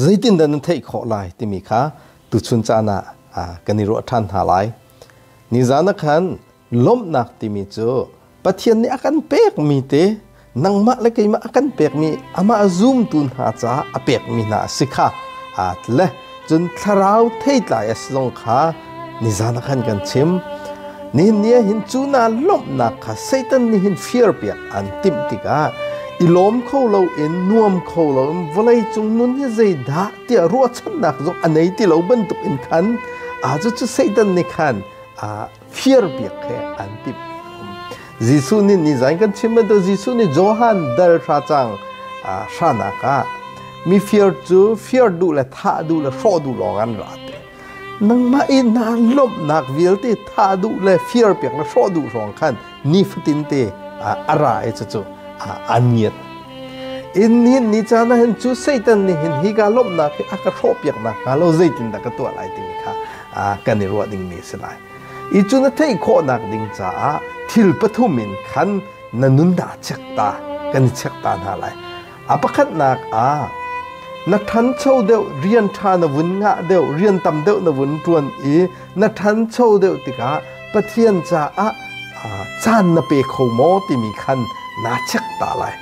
zeitindah nan theih khawh lai timi kha tuchun caan ah kan i ruah ṭhan hna lai. Nizan ah khan lawmhnak timi cu Pathian nih a kan pekmi te nangmah le keimah a kan pekmi amah zumtu hna caah a pekmi hna a si kha aa tle. Cun thlarau theitlai a si zong kha Nizan ah khan kan chim nin ni hin cu na lawmhnak kha Satan nih hin firpiak an timh tikah i lawm kho loin nuam kho loin vawleicung nun hi zeidah tiah ruahchannak zong a nei ti lo bantuk in khan a cu Satan nih khan a firpiak he an timh Jesuh nih ni zain kan chim bantuk Jesuh nih Johan dal hra cang hranak ah mifir cu fir duh le thah duh le hrawh duh lawng an ra te Nangmah i nan lawmhnak vialte thah duh le fir piak le hrawh duh hrawng khan nifatin te a ra i cucu an ngiat. In nihin ni caan ah hin cu Satan nih hin hi ka lawmhnak hi a ka hrawh piak nakhnga lo zeitindah ka tuah lai timi kha kan i ruah dingmi a si lai. I cu na theih khawhnak ding caah thil pathum in khan na nun dah check ta kan i check ta hna lai. A pakhatnak ah na ṭhancho deuh rian ṭha na vun ngah deuh rian tam deuh na vun ṭuan i na ṭhancho deuh tikah Pathian caah caan na pe kho maw timi khan naa check ta lai.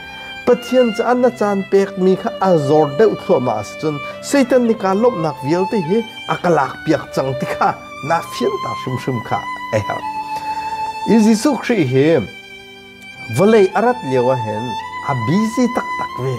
Pathian caah na caan pekmi kha a zor deuh thluahmah a si cun Satan nih kaa lawmhnak vialte hi a ka lakpiak cang ti kha naa fianter hrimhrim kha a herh. Jesuh Khrih hi Vawlei a rat lio ahhin a busy taktak ve.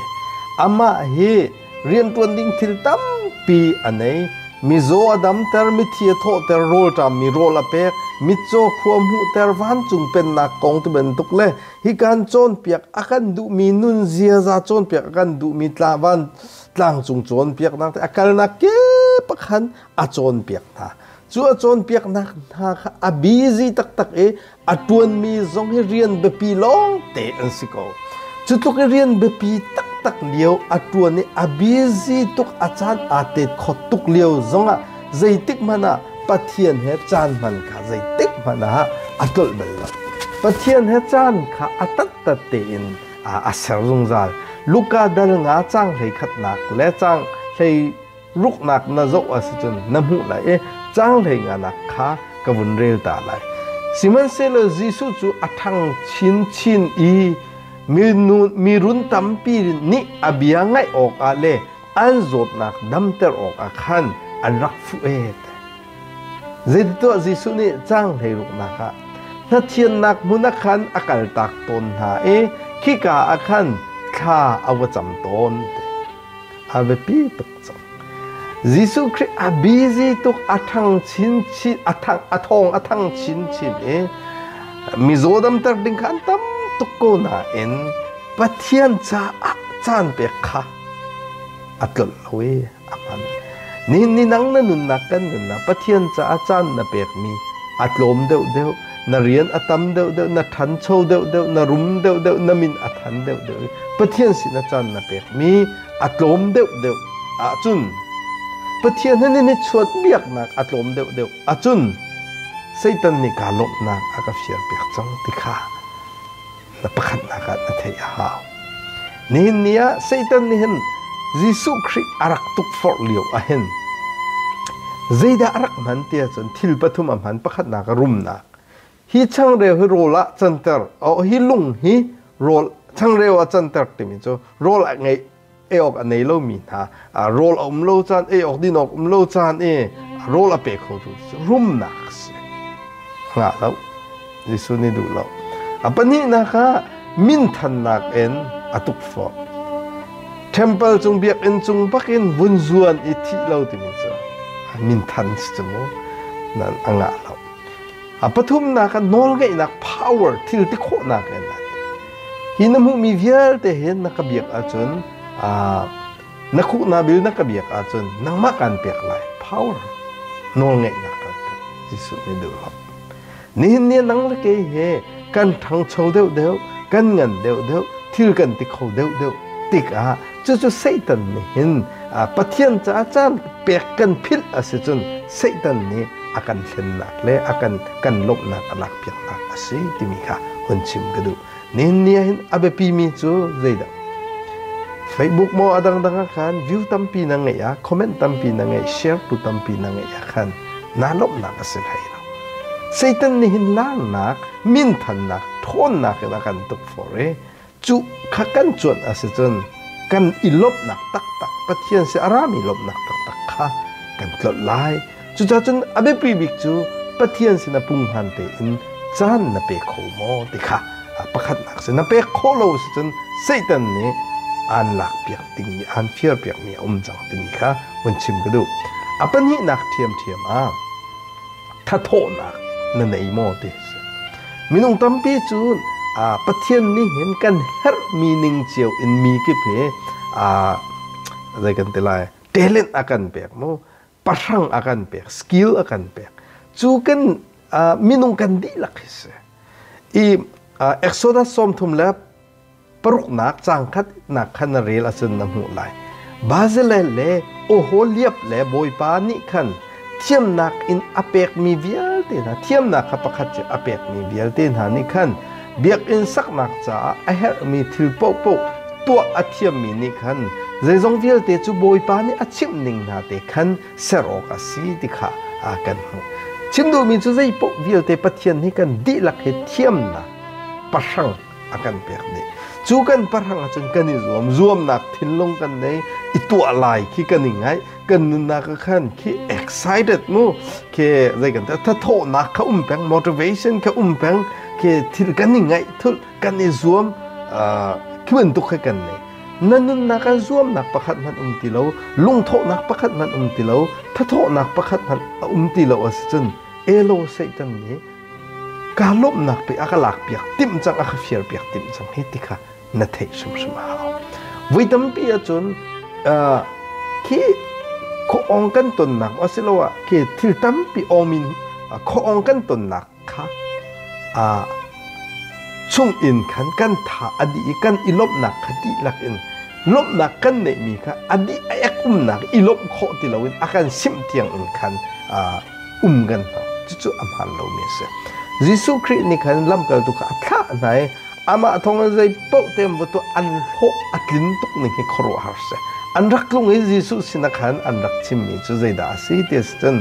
Amah hi rianṭuan ding thil tampi a nei. Mizaw a damter, mithi a thawhter, rawlṭammi rawl a pek, mitcaw khua hmuhter, vancung pennak kong ti bantuk le hi kan cawnpiak a kan duhmi nun ziaza cawnpiak a kan duhmi tlavan tlangcung cawnpiaknak a kalnak kip a khan a cawnpiak hna. Cu a cawnpiaknak hna kha a busy taktak i a ṭuanmi zong hi rian biapi lawngte an si ko. Cu tluk i rian biapi taktak lio a ṭuan i a busy tuk a caan aa tet kho tuk lio zongah zeitik hmanh ah Pathian he caan hman kha zeitik hmanh ah a tlolh bal lo. Pathian he caan kha a tattat tein a ser zungzal. Luka dal nga cang hlei khatnak le cang hlei Ruknak na zoh ah si cun na hmuh lai i cang hlei nganak kha ka vun rel ta lai. Sihmanhsehlaw Jesuh cu a ṭhang chinchin i mi run tampi nih a bia ngaih awkah le an zawtnak damter awkah khan an rak fuh ee. Zeitituah Jesuh nih cang hlei ruknak ah hnathiannak hmun ah khan a kaltak tawn hna i khika ah khan thla a va cam tawn. a biapi tuk cang. Jesuh Khrih a busy tuk a thang chinchin a thang a thong a thang chinchin i mizaw damter ding kha an tam tuk ko nain Pathian caah caan pek kha a tlolh lo i a hman. Nihin ni nang na nunnak kan nunnak Pathian caah caan na pekmi a tlawm deuh deuh. na rian a tam deuhdeuh na ṭhancho deuhdeuh na rum deuhdeuh na min a than deuhdeuh Pathian sin a can na pekmi a tlawm deuhdeuh ahcun Pathian he nan i chuat biaknak a tlawm deuhdeuh ahcun Satan nih kaa lawmhnak a ka fiarpiak cang ti kha na pakhatnak ah na theih a hau. Nihin ni ah Satan nih hin Jesuh Khrih a rak tukforh lio ah hin zeidah a rak hman ti ahcun thil pathum a hman pakhatnak a rumnak hi changreu hi rawl ah canter oh hi lung hi rawl changreu ah canter timi cu rawl a ngeih ei awk a nei lomi hna rawl a um lo caan ei awk din awk um lo caan i rawl a pe kho tu cu rumnak a si hngah lo Jesuh nih duh lo a pahnihnak ah minthannak in a tukforh temple cung biakinn cung bakin vun zuan i thi lo timi cu minthan si cu mu nan a ngah lo a pathumnak a nawlngeihnak power thil ti khawhnak in Hi na hmuhmi vialte hin na ka biak ahcun na khuhna bil na ka biak ahcun nangmah kaan pek lai power nawlngeihnak kan pe Jesuh nih duhlo nihin ni nang le kei he kan ṭhangcho deuh deuh kan ngan deuh deuh thil kan ti kho deuh deuh tikah Cucu Satan nih hin Pathian caah caan pek kan philh a si cun Satan nih a kan hlennak le a kan kan lawmhnak a lak piaknak a si timi kha hun chim ka duh. Ninia hin a biapimi cu zeidah? Facebook maw a dangdang ah khan view tampi na ngeih ah comment tampi na ngeih share tu tampi na ngeih ah khan naa lawmhnak a si hlei lo. Satan nih hin laarnak, minthannak, ṭhawnnak in a kan tuk for i Cu kha kan cuanh a si cun kan i lawmhnak taktak Pathian si a rami lawmhnak taktak kha kan tlolh lai. Cucaah cun a biapi bik cu Pathian sin a punghman tein caan na pe kho maw ti kha pakhatnak sin na pek khawh lo si cun Satan nih aan lakpiak dingmi aan firpiakmi a um cang timi kha vun chim ka duh. A pahnihnak ṭhiamṭhiam ah thathawhnak na nei maw ti si minung tampi cu pathian nih hin kan herhmi ning cio in mi kip hi zei kan ti lai talent a kan pek mu pahrang a kan pek skill a kan pek cu kan minung kan dihlak hi si i exodus sawm thum le paruknak cang khatnak khan na rel ahcun na hmuh lai. Barzilai le Oholiab le Bawipa nih khan thiamnak in a pekmi vialte hna thiamnak kha pakhat cu a pekmi vialte hna nih khan biakinn saknak caah a herhmi thil paohpaoh tuah a thiammi nih khan zeizong vialte cu Bawipa nih a chimh ning hna te khan ser awk a si ti kha kan hmuh. Chim duhmi cu zei paoh vialte Pathian nih kan dihlak he thiamnak pahrang a kan pek dih cu kan pahrang ahcun kan i zuam zuamnak thinlung kan nei i tuah lai khi kan i ngaih kan nunnak ah khan khi excited mu khi zei kan thathawnak kha um peng motivation kha um peng khi thil kan i ngaih thul kan i zuam khi bantuk kha kan nei na nunnak an zuamnak pakhat hmanh um ti lo lungthawhnak pakhat hmanh um ti lo thathawhnak pakhat hmanh a um ti lo a si cun elo satan nih Kaa lawmhnak te a ka lakpiak timh cang a ka fialpiak timh cang hi ti kha na theih hrimhrim a hau. Voi tampi ahcun uh, khi khoong kan tonnak asiloah khi thil tampi awmin uh, khoong kan tonnak kha uh, chung in khan kan tha a di i kan i lawmhnak kha dihlak in lawmhnak kan neihmi kha a di a ek umnak i lawmh khawh ti loin a kan simh tiang in khan uh, um kan hna cucu a hmaan lomi a si Jesuh Khrih nih khan lamkaltu kha a thlah hna i amah thawngin zei paoh tein va tuah an hlawh a tlin tuk ning hi khuaruahhar si an rak tlung i Jesuh sinah khan an rak chimmi cu zeidah a si ti si cun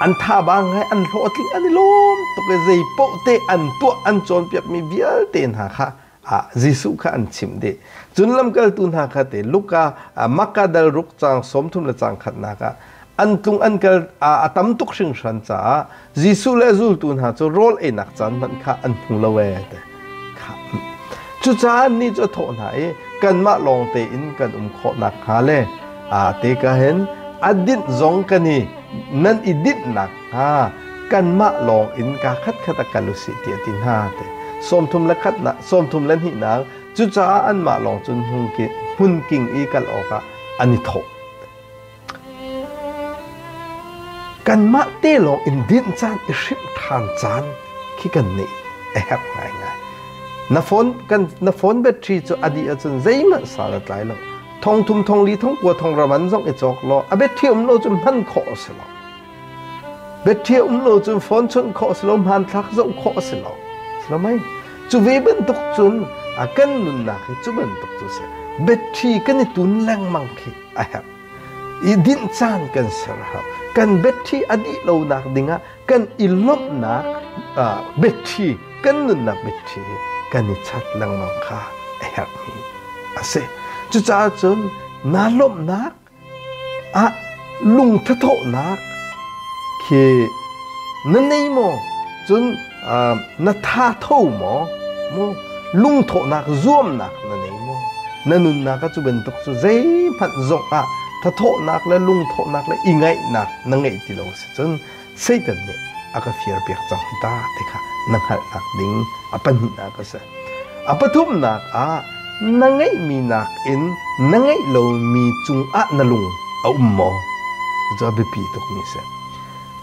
an thaba ngai an hlawhtling an i lawm tuk i zei paoh te an tuah an cawnpiakmi vialte hna kha ah Jesuh kha an chimh dih. Cun lamkaltu hna kha te Luka ah Makadal ruk cang sawmthum le cang khatnak ah an tlung an kal a tam tuk hringhran caah Jesuh le zultu hna cu rawl einak caan hmanh kha an hmu lo ee te cucaah ni cu a thawh hna i kanmah lawng tein kan um khawh nakhnga le a te ka hin a dinh zong kan i nan i dinhnak kanmah lawng in kaa khatkhat ah kal usih tiah a ti hna te sawmthum le khatnak sawmthum le hnihnak cucaah anmah lawng cun hmun king i kal awkah an i thawh kanmah te lawng in dinh caan i hrimh ṭhan caan khi kan nih a herh ngaingai na phone kan na phone battery cu a dih ahcun zeihmanh sal a tlai lo thong thum thong li thong kua thong raman zong i cawk law a battery um lo cu hman khawh a si lo Bethiah um lo cun phone chunh khawh a si lo, hmanthlak zoh khawh a si lo. Si lo mei? Cu ve bantuk cun a kan nunnak hi cu bantuk cu a si. Betthi kan i tun lengmang khi a herh. I dinh caan kan ser a hau. Kan betthi a dih lonak dingah kan i lawmhnak uh, betthi, kan nunnak betthi hi kan i chat lengmang kha a herhmi a si. Cucaah cun naa lawmhnak Ah lungthathawhnak khi na nei maw cun na thatho maw maw lungthawhnak zuamnak na nei maw na nunnak cu bantuk cu zeihmanh zongah thathawhnak le lungthawhnak le i ngaihnak na ngeih ti lo a si cun Satan nih a ka firpiak cang ta ti kha na hngalhnak ding a pahnihnak a si. A pathumnak ah na ngeihmi nakin na ngeih lomi cungah na lung a um maw? Cu a biapi tukmi a si.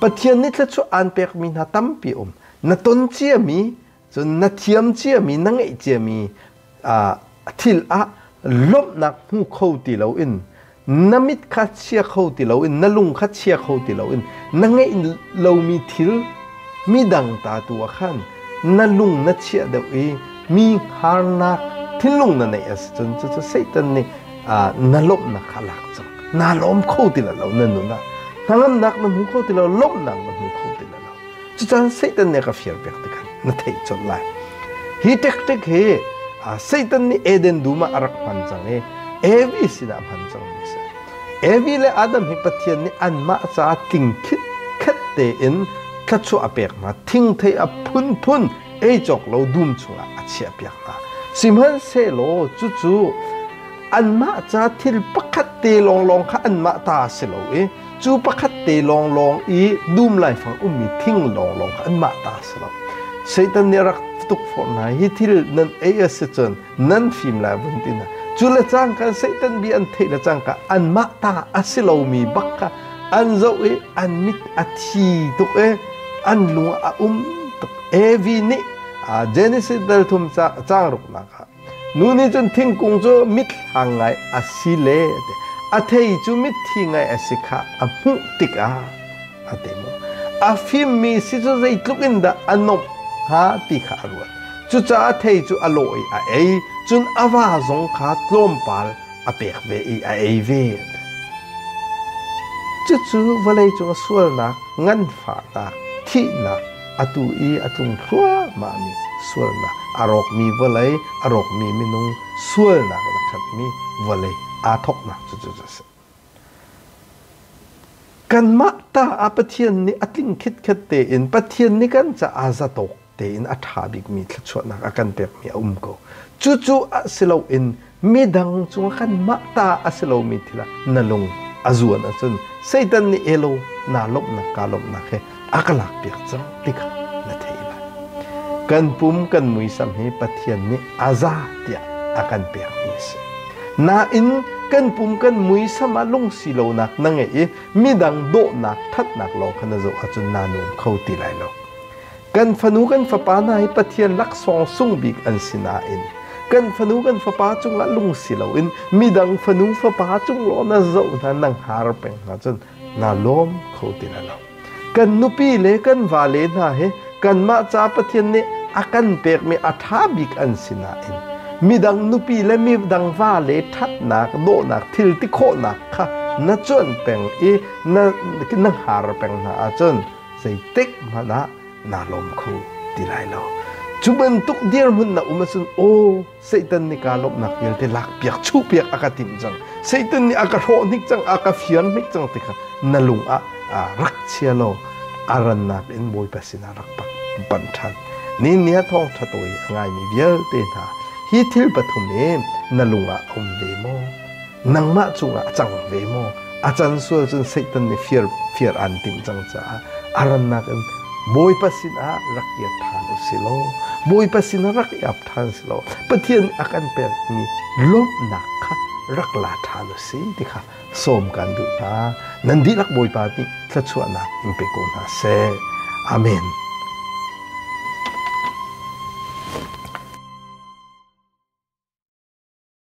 Pathian nih thluachuah aan pekmi hna tampi um. Na ton ciami Cun na thiam ciami, na ngeih ciami thil ah lawmhnak hmu kho ti loin na mit kha chia kho ti loin na lung kha chia kho ti loin na ngeih lomi thil midang ta tu ah khan na lung na chiah deuh i mi harnak thinlung na neih a si cun cucu Satan nih na lawmhnak kha lak cang naa lawm kho ti lo na nun ah hnangamnak na hmu kho ti lo lawmhnak na hmu kho ti lo Cucan Satan nih a ka fir piak tikhan na theih colh lai. Hi taktik hi Satan nih Eden dum ah a rak hman cang i Evi sinah hman cangmi a si. Evi le Adam hi Pathian nih anmah caah tlingkhit khet tein thluachuah a pek hna. Thingthei a phunphun ei cawk lo dum chungah a chiah piak hna. Sihmanhsehlaw cucu anmah ca thil pakhat te lawnglawng kha anmah ta a si lo i Cu pakhat te lawnglawng i dum laifang ummi thing lawnglawng kha anmah ta a si lo. Satan nih a rak tukforh hna hi thil nan ei a si cun nan fim lai vun ti hna. Cu le cang kha Satan bia an theih le cang kha anmah ta a si lomi bak kha an zoh i an mit a thi tuk i an lung a um tuk. Evi nih Genesis dal thum cang ruknak ah Nu nih cun thingkung cu mitthlang ngai a si le a thei cu mitthi ngai a si kha a hmuh tikah a ti mu. A fimmi si cu zeitluk in dah a nomh hnga ti kha a ruat. Cucaah thei cu a lawh i a ei, cun a va zong kha tlawmpal a pek ve i a ei ve. Cucu vawlei cung sualnak, nganfahnak, thihnak, atu i a tlung thluahmahmi sualnak a rawkmi vawlei a rawkmi minung sualnak in a khatmi vawlei aa thawknak cucu a si. Kanmah ta ah Pathian nih a tling khitkhet tein Pathian nih kan caah zatawk tein a ṭha bikmi thluachuahnak a kan pekmi a um ko. Cucu a si loin midang cung ah kanmah ta a si lomi thil ah na lung a zuan ahcun Satan nih elo naa lawmhnak kaa lawmhnak he a ka lakpiak cang ti kha na theih lai. Kan pum kan muisam hi Pathian nih a za tiah a kan pekmi a si. Nain kan pum kan muisam ah lungsi lonak na ngeih i midang dawhnak thatnak lawng kha na zoh ahcun naa nung kho ti lai lo. Kan fanu kan fapa hna hi Pathian laksawng sung bik an si nain kan fanu kan fapa cungah lungsi loin midang fanu fapa cunglaw na zoh hna na har peng hna cun naa lawm kho ti lai lo. Kan nupi le kan vale hna he kanmah ca Pathian nih a kan pekmi a ṭha bik an si nain midang nupi le midang vale ṭhatnak dawhnak thil ti khawhnak kha na cuan peng i na, na har peng hna ahcun zeitik hmanh ah naa lawm kho ti lai lo. Cu bantuk dirhmun na um ahcun aw Satan nih kaa lawmhnak vialte lakpiak chuhpiak a ka timh cang. Satan nih a ka hrawh hnik cang, a ka fir hnik cang ti kha na lung ah rak chia law a rannak in Bawipa sinah rak pan ṭhan. Ni nia thawng ṭha tawi a ngaimi vialte hna hi thil pathum hi na lung ah a um ve maw? nangmah cungah a cang ve maw a can sual cun satan nih fir fir aan timh cang caah a rannak in Bawipa sinah rak i tthan u si law Bawipa sinah rak i ap tthan si law Pathian nih a kan pekmi lawmhnak kha rak la tthan u si ti kha sawm kan duh hna nan dihlak Bawipa nih thluachuahnak in pe ko hna seh Amen